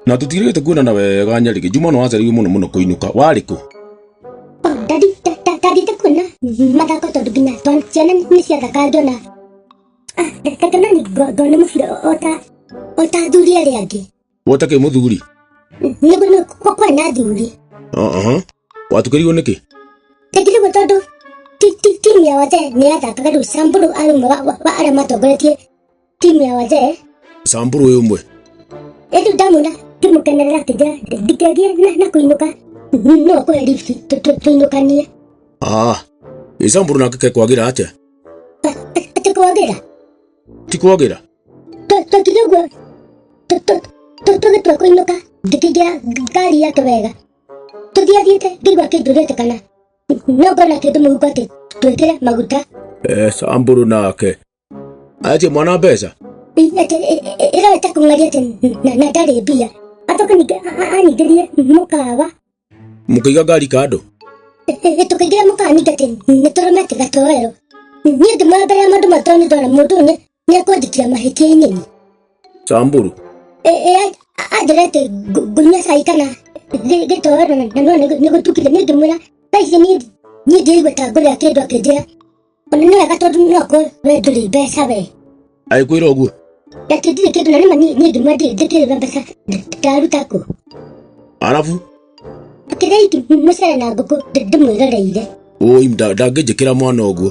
na tũtiĩrĩgĩte kuonana wega nyarĩgĩ juma no wacaririo mũno mũno kũinũka warĩ kũ Oh, ndadi ndathiĩte kuona mathako tondũ nginya twana- ciana nĩ ciathaka ngĩona Ah, nda- nda- ngĩona ni ngo- ngona mũbira o ta o ta athuri arĩa angĩ Wote kĩ mũthuri? Nĩ kũrĩ kwarĩ na athuri. Aha. Watukĩrirwo nĩkĩ? Tekirĩgwo tondũ ti- ti- timu ya wazee nĩ yathakaga rĩu Samburu arĩ ũmwe wa- wa wa arĩa matongoretie timu ya wazee. Samburu ũyũ ũmwe. Ĩndĩ ndamwona ngĩmũkenerera akĩnjĩra ndingĩagire na- na kũinũka no kũhe lift tũ- tũ- tũinũkanie. Ah. Ĩ Samburu nake kekwagira atĩa? Atĩ kwagĩra Ti kwagira. Twakinya ũguo tũgĩtua kũinũka ngĩkĩingĩra ngari yake wega tũthiathiĩte ngĩigua kĩnjũrĩte kana no ngona kĩndũ mũhuko atĩ twĩkĩre maguta eh, samburu nake aje mwana mbeca ĩroete kũng'aria atĩ na ndarĩ mbia acoka ningĩ anyingĩrie mũkawa mũkĩiga ngari kando tũkĩingĩra mũkawa ningĩ atĩ nĩ tũrũme atĩ gatoero niĩ ndĩ mwambere ya maũndũ matũ nĩ ndona mũndũ ũyũ nĩ ekwandĩkĩra mahĩtia inini Samburu. ĩĩ anjĩra atĩ ngu- ngunyia cai kana gĩ- gĩtoero na na no nĩ- nĩ gũtukire nĩ ngĩmwĩra thaa ici niĩ niĩ ndĩraigua ta ngũrĩa kĩndũ akĩnjĩra ona nĩ wega tondũ no kwe we ndũrĩ mbeca we Agĩkwĩra ũguo. ati ndirĩ kĩndũ na nĩma niĩ niĩ ngĩmwĩra ndĩ- ndĩkĩrĩga mbeca nda- ndaruta kũ Arabu. akĩrĩa iki mũcere na ngũkũ ndĩ- ndĩmwĩroreire Ũi nda- ndangĩnjĩkĩra mwana ũguo.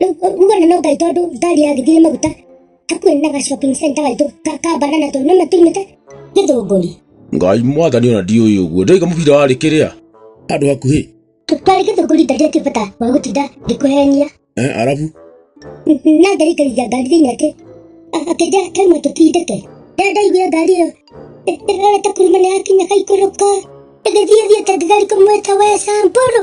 ngona no gaito andu ngari yagithire maguta hakuhi na ga shopping center gaito ka ka banana tu no matumite githunguri ngai mwathani ona ndiũĩ ũguo ndoiga mũbira warĩ kĩrĩa handũ hakuhĩ twari githunguri ndari akibata wa gutinda ngikuhenia Eh, arabu na ndari kaigithia ngari thiini ati akenja kaima tutindike rĩrĩa ndaiguire ngari ĩyo ĩrorete kuruma nĩ yakinya kaikũrũka ĩgĩthiĩ thiĩte ngigari kũmwĩta we samburu